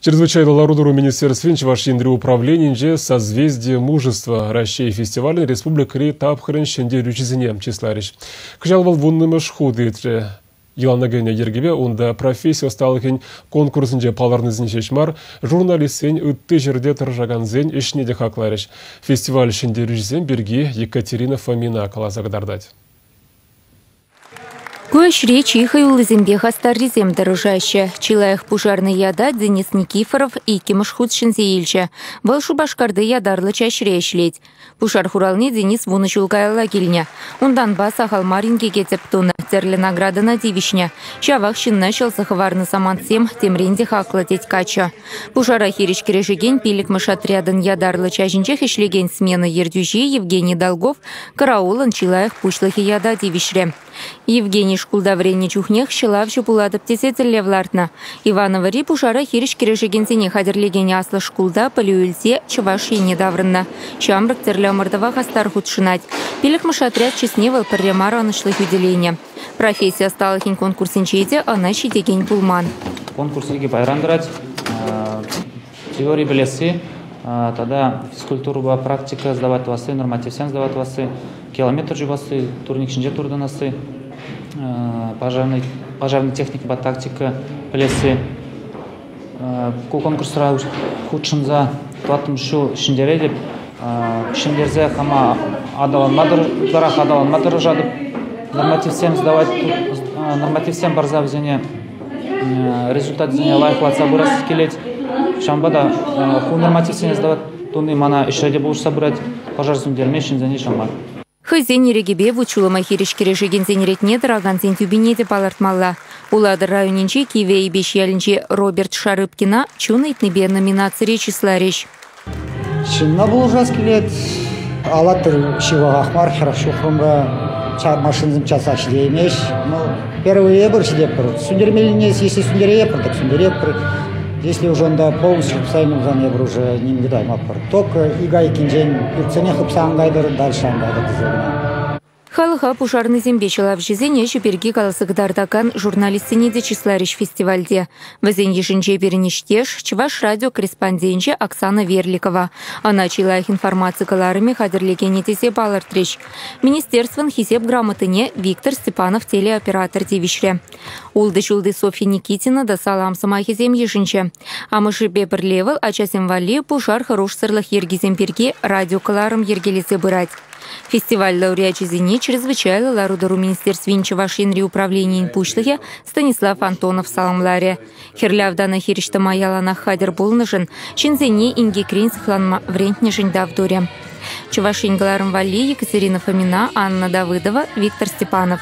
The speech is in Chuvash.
Чрезвычайлӑ лару-тӑру министерствин Чӑваш Енри управленийӗнче «Созвездие мужества» Раҫҫей фестивалӗн республикӑри тапхӑрӗн ҫӗнтерӳҫисене чысларӗҫ. Кӑҫал вӑл вуннӑмӗш хут иртрӗ. Йӑлана кӗнӗ йӗркепе унта професси ӑсталӑхӗн конкурсӗнче палӑрнисем ҫеҫ мар, журналистсен, ытти ҫӗрте тӑрӑшакансен ӗҫне те хакларӗҫ. Фестиваль ҫӗнтерӳҫисем пирки Екатерина Фомина каласа кӑтартать. Ку ӗҫре чи хӑюллисемпе хастаррисем тӑрӑшаҫҫӗ. Чи лайӑх пушарнӑй ята Денис Никифоров иккӗмӗш хут ҫӗнсе илчӗ. Вӑл Шупашкарти ятарлӑ чаҫре ӗҫлет. Пушар хуралне Денис вунӑ ҫул каялла килнӗ. Унтанпа сахал мар инкеке тӗп тунӑ, тӗрлӗ наградӑна тивӗҫнӗ. Ҫавах ҫынна ҫӑлса хӑварнӑ самантсем темрен те хаклӑ, тет каччӑ. Пушара хирӗҫ кӗрешекен пиллӗкмӗш отрядӑн ятарлӑ чаҫӗнчех ӗҫлекен смена ертӳҫи Евгений Долгов караулӑн чи лайӑх пуҫлӑхӗ ята тивӗҫрӗ. Евгений шкулта вӗреннӗ чухнех ҫӑлавҫӑ пулатӑп тесе тӗллев лартнӑ. Ивановӑри пушара хирӗҫ кӗрешекенсене хатӗрлекен аслӑ шкулта пӗлӳ илсе Чӑваш Енне таврӑннӑ. Ҫамрӑк тӗрлӗ ӑмӑртӑва хастар хутшӑнать. Пиллӗкмӗш отряд чысне вӑл пӗрре мар ӑнӑҫлӑ хӳтӗленӗ. Професси ӑсталӑхӗн конкурсӗнче те ӑна ҫитекен пулман. Конкурс икӗ пайран тӑрать. Теори пӗлесси тата физкультурӑпа практика сдавать тӑвасси, нормативсем сдавать тӑвасси, километр чупасси, турник ҫинче туртӑнасси, пожарнӑй, пожарнӑй техникӑпа тактика пӗлесси, Ку конкурсра хутшӑнса тӑваттӑмӗш ҫул ҫӗнтеретӗп. Ҫӗнтерсе хама ытларах аталанма тӑрӑшатӑп. Нормативсем задавать нормативсем парса вӗсене результатсене лайӑхлатса пырас килет. Ҫавӑнпа та ку нормативсене задавать туни мана ӗҫре те пулӑшса пырать, пӑшӑр сӳнтерме ҫынсене ҫӑмах. Хӑйсен ирӗкӗпе вут-ҫулӑма хирӗҫ кӗрешекенсен ретне тӑракансен тӳпине те палӑртмалла. Улатӑр районӗнчи Кивӗ Эйпеҫ ялӗнчи Роберт Шарыпкина чун ыйтнипе номинацире чысларӗҫ. Ҫынна пулӑшас килет. Алатырь ҫывӑхах мар, хӗр ҫухрӑмра машинӑсем часах ҫитеймест. Первый эпир ҫитеппӗр. Сӳнтермеллине если сӳнтерейӗпӗр, так сӳнтерейӗпӗр. Если уже ӑнта полностью хыпсайнӑ пулсан эпир уже ним тытаймастпӑр. Только ик айккинчен иртсенех хыпса антайтӑр, дальше антайтӑр кӗсе кӑна. Халӑха пушарнӑйсемпе ҫӑлавҫӑсен ӗҫӗ пирки каласа кӑтартакан журналистсене те чысларӗҫ фестивальте. Вӗсен йышӗнче пирӗн ништеш, Чӑваш радио корреспонденчӗ Оксана Верликова. Ана чи лайӑх информаци кӑларӑмӗ хатӗрлекенӗ тесе палӑртрӗҫ. Министерствӑн Хисеп грамотине Виктор Степанов телеоператор тивӗҫрӗ. Ултӑ ҫулти Софья Никитина та салам сӑмахӗсем йышӑнчӗ. Амӑшӗпе пӗрле вӑл ачасем валли пушар хӑрушсӑрлӑх йӗркисем пирки радиокӑларӑм йӗркелесе пырать. Фестиваль лауреачӗсене Чрезвычайлӑ лару-тӑру министерствин Чӑваш Енри управленийӗн пуҫлӑхӗ Станислав Антонов саламларӗ. Хӗрлӗ автана хирӗҫ тӑма яланах хатӗр пулнӑшӑн, ҫынсене инкекрен сыхланма вӗрентнӗшӗн тав турӗ. Чӑваш Ен кӑларӑм валли Екатерина Фомина, Анна Давыдова, Виктор Степанов.